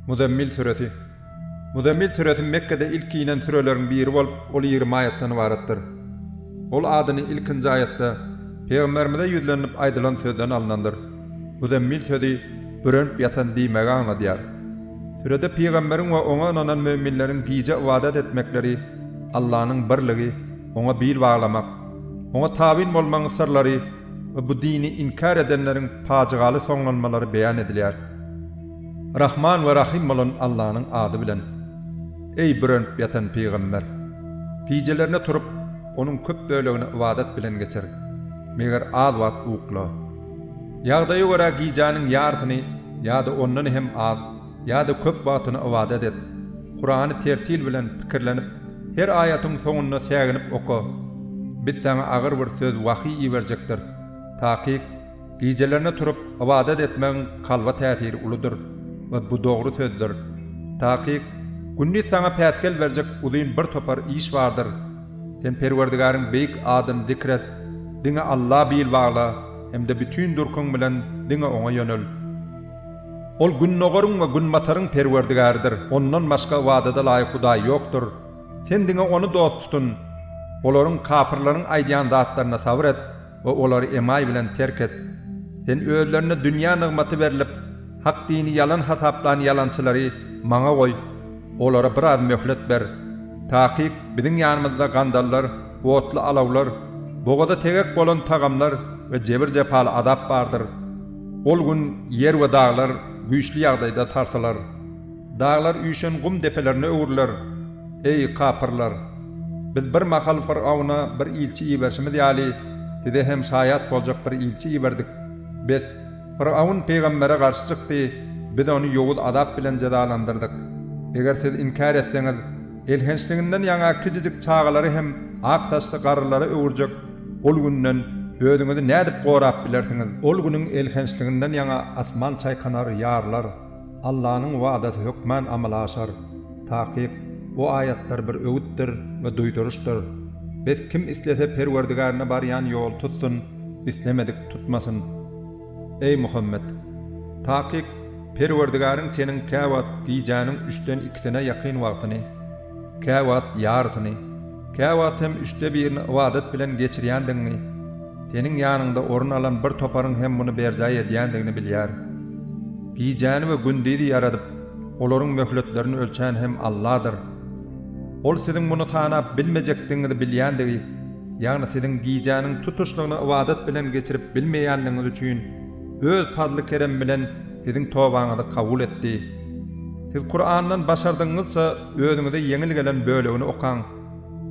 Muzemmil süresi Muzemmil süresi Mekgede ilki inen süreleriň biri bolup, ol ýigrimi aýatdan ybaratdyr. Ol adyny ilkinji aýatda Pygamberimize ýüzlenilip aýdylan sözden alnandyr. Muzemmil sözi bürenip ýatan diýmegi aňladýar. Sürede pygamberiň we oňa ynanan möminleriň gije ybadat etmekleri, Allanyň birligi, oňa bil baglamak, oňa tabyn bolmagyň syrlary, we bu dini inkär edenleriň pajygaly soňlanmalary beýan edilýär. Rahman we Rahym bolan Allanyň ady bilen. Eý, bürenip ýatan pygamber! Gijelerine turup, onuň köp bölegini ybadat bilen geçir, meger az wagt ukla. Ýagdaýa görä gijäniň ýarysyny ýa-da ondan hem az, Ýa-da köp wagtyny ybadat et. Kurany tertil bilen pikirlenip, her aýatyň soňunda säginip oka. Biz saňa agyr bir söz wahyý iberjekdiris. Takyk, gijelerine turup, ybadat etmegiň kalba täsiri uludyr we bu dogry sözdür. Takyk, gündiz saňa päsgel berjek uzyn bir topar iş bardyr. Sen Perwerdigaryň beýik adyny zikr et, diňe Alla bil bagla hem-de bütin durkuň bilen diňe Oňa ýönel. Ol Gündogaryň we Günbataryň Perwerdigäridir, Ondan başga ybadada laýyk Hudaý ýokdur. Sen diňe Ony dost tutun. Olaryň, kapyrlaryň, aýdýan zatlaryna sabyr et we olary emaý bilen terk et. Sen özlerine dünýä nygmaty berlip, hak dini ýalan hasaplan ýalançylary Maňa goý. Olara biraz möhlet ber. Takyk, biziň ýanymyzda gandallar, otly alawlar, bogaza tegek bolan tagamlar we jebir-jepaly azap bardyr. Ol gün ýer we daglar güýçli ýagdaýda sarsylar. Daglar üýşen gum depelerine öwrüler. Eý, kapyrlar! Biz bir mahal Fyrgawna bir ilçi iberşimiz ýaly, size hem şaýat boljak bir ilçi iberdik. Bes, Fyrgawn pygambere garşy çykdy, biz ony ýowuz azap bilen jezalandyrdyk. Eger siz inkär etseňiz, Elhençliginden ýaňa kiçijik çagalary hem ak saçly garrylara öwürjek ol günden özüňizi nädip gorap bilersiňiz? Ol günüň elhençliginden ýaňa asman çaýkanar, ýarylar. Allanyň wadasy hökmän amala aşar. Takyk, bu aýatlar bir öwütdir we duýduryşdyr. Bes kim islese Perwerdigärine barýan ýoly tutsun, islemedik tutmasyn. Eý, Muhammet! Takyk, Perwerdigäriň seniň käwagt gijäniň üçden ikisine ýakyn wagtyny, käwagt ýarysyny, käwagt hem üçde birini ybadat bilen geçirýändigiňi, seniň ýanyňda orun alan bir toparyň hem muny berjaý edýändigini bilýär. Gijäni we gündizi ýaradyp, olaryň möhletlerini ölçän hem Alladyr. Ol siziň muny sanap bilmejekdigiňizi bilýändigi, Ýagny siziň gijäniň tutuşlygyny ybadat bilen geçirip bilmeýänligiňiz üçin Öz pazly-keremi bilen siziň tobaňyzy kabul etdi. Siz Kurandan başardygyňyzça özüňize ýeňil gelen bölegini okaň.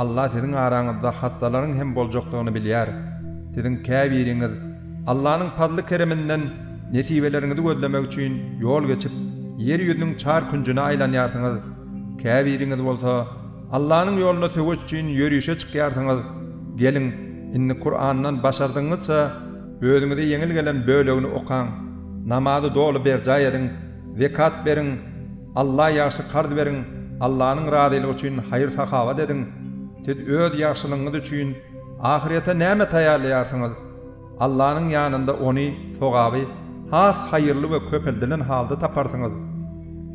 Alla siziň araňyzda hassalaryň hem boljakdygyny bilýär. Siziň käbiriňiz Allanyň pazly-kereminden nesibeleriňizi gözlemek üçin ýol geçip, ýer ýüzüniň çar künjüne aýlanýarsyňyz, käbiriňiz bolsa, Allanyň ýolunda söweş üçin ýörişe çykýarsyňyz, geliň, indi Kurandan başardygyňyzça özüňize ýeňil gelen bölegini okaň, namazy doly berjaý ediň, zekat beriň, Alla ýagşy karz beriň, Allanyň razylygy üçin haýyr-sahawat ediň, siz öz ýagşylygyňyz üçin ahyrete näme taýýarlaýarsyňyz? Allanyň ýanynda ony, sogaby, has haýyrly we köpeldilen halda taparsyňyz.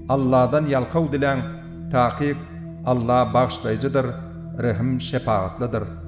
Alladan ýalkaw diläň, takyk Alla Bagyşlaýjydyr, Rehim-şepagatlydyr.